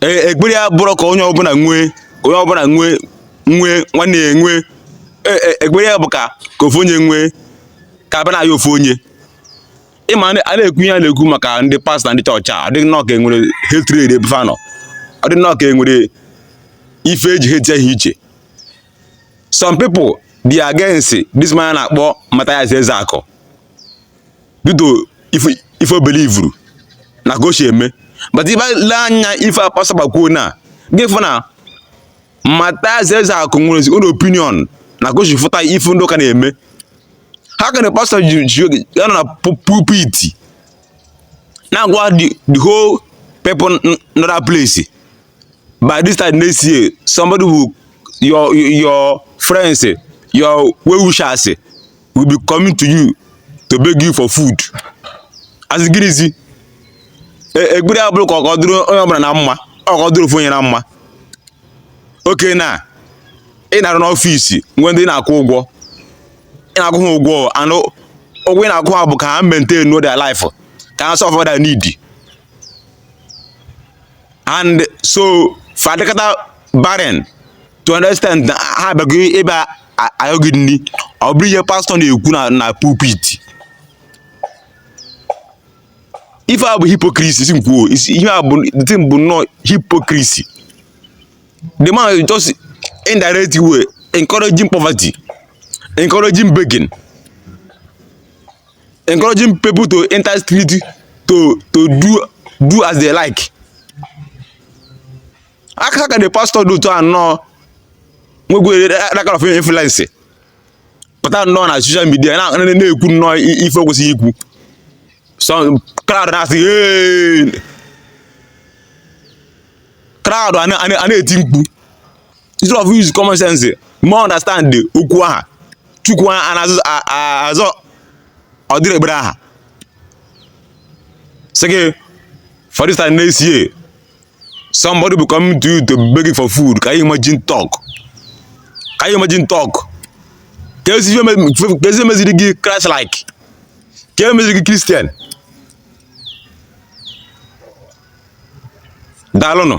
e, ekpere ya abụrọ ka onye ọbụla nwee onye ọbụla nwee nwee nwanne ya nwee e, e, ekpere ya bụ ka ka ofu onye nwee ka abịa na-ayọ ofu onye ịma a na-ekwu ihe a na-ekwu maka ndị pastọ na ndị chọọchị a ọdịghị nnọọ ka enwere hatred ebe fa nọ ọdịghị nnọọ ka enwere ife eji hate ha iche some people they are against this man a na-akpọ Mathias Ezeaku due to ife ife o belivuru na ka o si eme but ị bịa lee anya ife a pastọ bịa kwuo na gị fụ na Mathias Ezeaku nwere his own opinion na ka o si fụta ife ndị ụka na-eme how can a pastọ ji ji oge ya nọ na pu- pulpit na-agwa the the whole people n- nọ that place by this time next year somebody will your your friends your well wishers will be coming to you to beg you for food asị gịnịzi e, ekpere ya abụrọ ka ọ dịrị onye ọbụla na mma ọ ka ọ dịrị ofu onye na mma okay na ị na-arụ n'ọfịs nwee ndị ị na-akwụ ụgwọ ị na-akwụ ha ụgwọ and ụgwọ ị na-akwụ ha bụ ka ha maintain their life ka ha solve their need and so fa dịkata barren to an extent na ha abịago ebe a ayọ gị nri ọ bụrụ ihe pastọ na-ekwu na na pulpit ife a bụ hypocrisy si m kwuo isi- ihe a bụ the thing bụ nnọọ hypocrisy the man is just indirect way encouraging poverty encouraging begging encouraging people to enter street to to do do as they like how can the pastor dị otu a nnọọ nwekwere that kind of influence pụta nnọọ na social media na-ekwu nnọọ ife o kwesịghị ikwu some crowd na-asị crowd a na-eti mkpu instead of use common sense ma understand the okwu aha chukwu a na-azụ azọ ọ dịrị ekpere aha sị gị for this time next year somebody will come to you to beg you for food can you imagine talk can you imagine talk keezi ihe meziri gị christ like kee ihe meziri gị christian daalụnụ